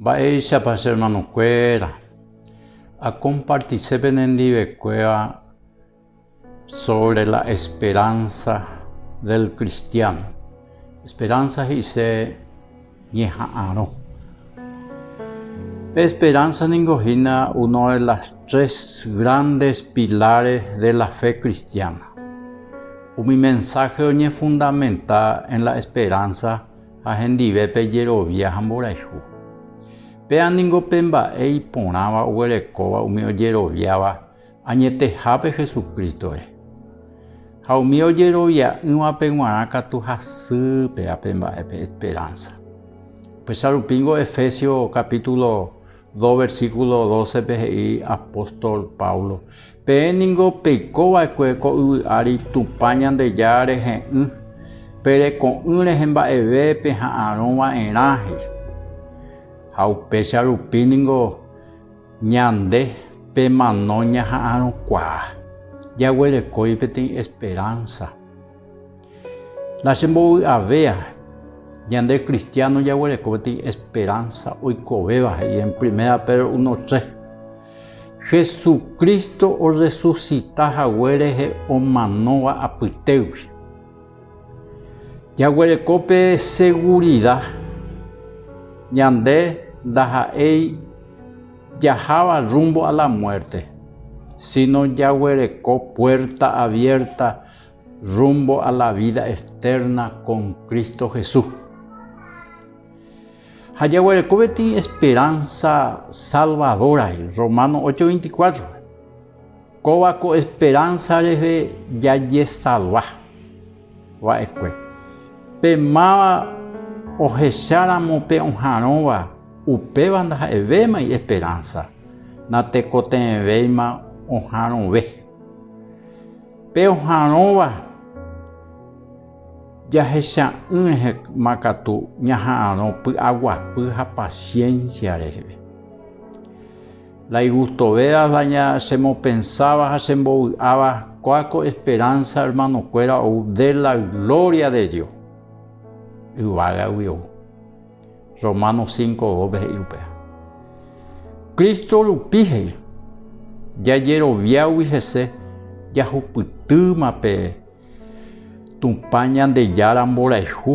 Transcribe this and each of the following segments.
Mba'éichapa che ermanokuéra akompartise penendivekuéva sóvre la esperánsa del kristiáno? Esperánsa he'ise ñeha'arõ. Pe esperánsa ningo hína uno de las tres grandes pilares de la fe cristiana. Umi mensáhe oñefundamenta en la esperánsa ha hendive pe jerovia ha mborayhu. Péa ningo pe mba'e iporãva oguerekóva umi ojeroviáva añetehápe Jesucristo-re. Ha umi ojerovia'ỹvape g̃uarã katu hasy péa pe mba'e pe esperánsa. Upéicharupíngo Efesios capítulo 2 versículo 12 pe he'i apóstol Pablo, Peẽ ningo peiko va'ekue ko yvy ári Tupã Ñandejára rehe'ỹ, pe reko'ỹ rehe mba'eve peha'arõ va'erã, he'i. Ha upéicha rupi ningo ñande pe mano ñaha'arõkuaa, jaguerekói peteĩ esperánsa. La che mbovy'avéa, ñande kristiáno jaguereko peteĩ esperánsa oikovéva he'i en Primera Pedro uno tre. Jesucristo orresusita hague rehe omanóva apytégui. Jaguereko pe segurida ñande ndaha'éi jaháva rrúmbo a la muérte, síno jaguereko puérta aviérta Rumbo a la vida eterna con Cristo Jesús. Ha jaguereko peteĩ esperanza salvadora, Romano 8, 24. Kóva ko esperanza rehe jajesalva va'ekue. Pe máva ohecháramo pe oharõva, upéva ndaha'evémai esperanza, natekotevẽvéima oharõve. Pe oha'arõva jahecha'ỹehema katu ñaha'arõ py'aguapy ha paciencia reheve. La Igustoveras la ña chemopensáva ha chembovy'áva kua ko esperanza hermanokuéra ou de la gloria de Dios yvágagui ou. Romanos cinco dóce he'i upéva. Cristo rupi he'i, jajeroviágui hese jahupytýma pe Tupã Ñandejára mborayhu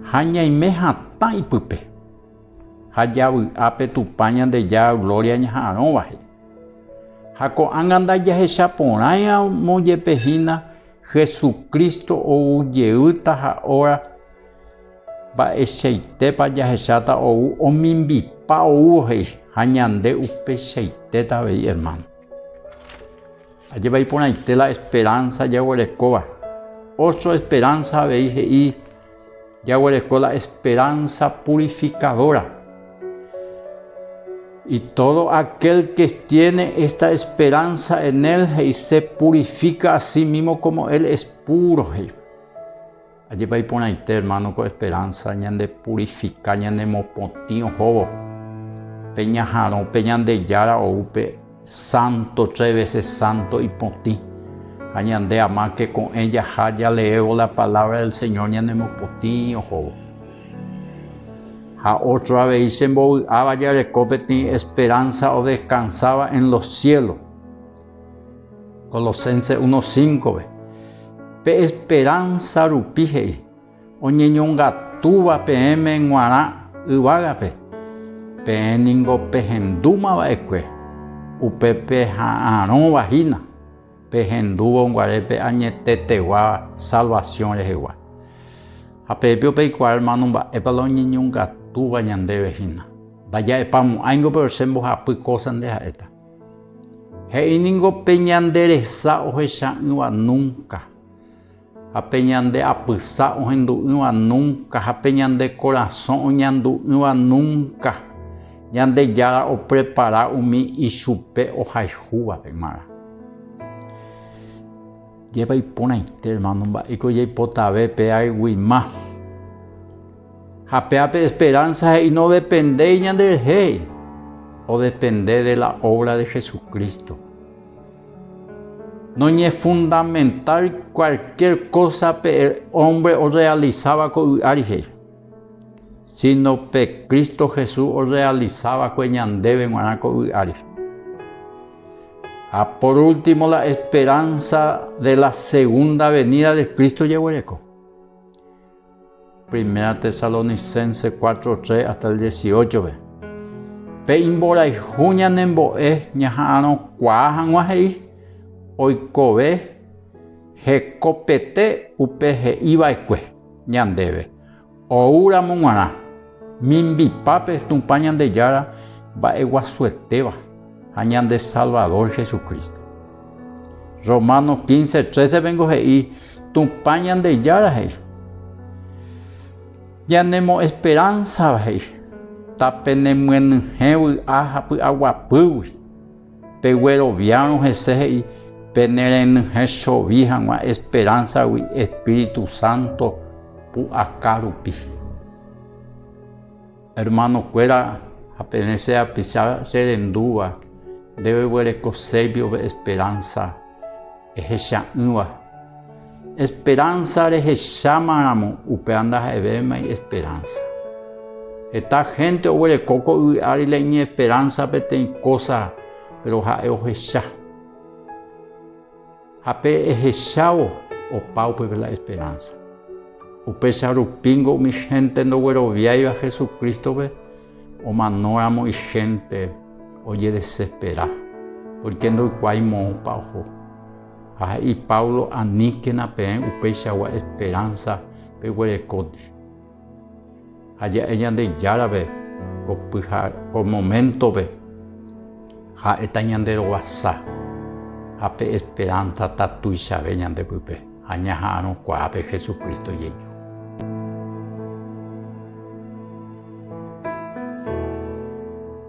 ha ñaime hatã ipype, ha javy'a pe Tupã Ñandejára gloria ñaha'arõva he'i. Ha ko'ág̃a ndajahecha porãiramo jepe hína Jesucristo ou jeýta ha óra, Mba'eichaitépa jahecháta ou omimbipa oúvo he'i ha ñande upeichaitéta avei ermáno? Ajépa iporãite la esperánsa jaguerekóva! Ótro esperánsa avei he'i jaguereko la esperánsa purifikadóra. Y tódo akél ke tiéne ésta esperánsa en él he'i se purifika asímimo kómo él es púro, he'i. Ajépa iporãite, hermano, ko esperanza ñande purifica ñanemopotĩ ohóvo pe ñaharõ pe Ñandejára ou pe santo tres veces santo ipotĩ. Ha ñande ama ke ko'ẽ jaha jaleévo la palabra del Señor ñanemopotĩ ohóvo. Ha otro avei che mbovy'áva jareko peteĩ esperanza odescansáva en los cielos. Colosenses 1:5-pe, Pe esperánsa rupi he'i, oñeñongatúva peẽme g̃uarã yvágape, peẽ ningo pehendúma va'ekue, upe peha'arõva hína, pehendúvo guarépe añetetegua salvasiõ rehegua. Ha pepío peikuaa, hermano, mba'épa la oñeñongatúva ñandéve hína. Mba'éjapa mo'ãingo, péro che mbohapy kósa nde ha'éta. He'i ningo pe ñande resa ohecha'ỹva núnka, ha pe ñande apysa ohendu'ỹva núnka, ha pe ñande korasõ oñandu'ỹva núnka, Ñandejára oprepara umi ichupe ohayhúvape g̃uarã. Jepaiporãite, ermáno, mba'éiko jaipotave pe ayguima. Ha péa pe esperánsa he'i nodependéi ñanderehe, odepende de la óvra de Jesucristo. Noñefundamental kualkiér kósa pe ómbre orrealisáva ko vy'ári he'i, síno pe Cristo Jesús orrealisa va'ekue ñandéve g̃uarã ko vy'ári. Ha por último la esperánsa de la segunda venida de Cristo jeguereko. Primera Tesalonicenses cuatro, tres hasta el dieciocho-pe, pe imborayhu ñanembo'e ñaha'arõkuaa hag̃ua he'i oikove hekopete upe he'i va'ekue ñandéve, ou ramo g̃uarã, mimbipápe Tupã Ñandejára mba'eguasuetéva. ha ñande Salvador Jesucristo. Romanos 15, 13 vengo he'i Tupã Ñandejára he'i. Ñanemo'esperánsava he'i, ta penemyenyhẽ vy'a ha py'aguapýgui, pegueroviárõ hese he'i penerenyhẽ chovi hag̃ua esperánsagui Espíritu Santo pu'aka rupi. Hermano kuéra, ha peẽ che apicha che rendúva, ndéve guereko chéipi ove esperanza ehecha'ỹva. Esperanza rehecháma ramo, upéva ndaha'evéimai esperanza. Heta gente oguereko ko yvy ári la iñesperanza peteĩ cosa, pero ha'e ohecha. Ha pe ehechávo opa upépe la esperánsa. Upéicha rupíngo umi hénte ndogueroviáiva Jesucrístope omanóramo ihénte ojedesespera pórke ndoikuaái moõpa oho. Ha he'i Pablo, Aníkena peẽ upéichagua esperánsa peguerekóndi. Ha ja'e Ñandejárave ko pyha, ko moméntove, ha'éta ñande roguasa ha pe esperánsata tuichave ñande pype ha ñaha'arõ kuaápe Jesucristo jeju.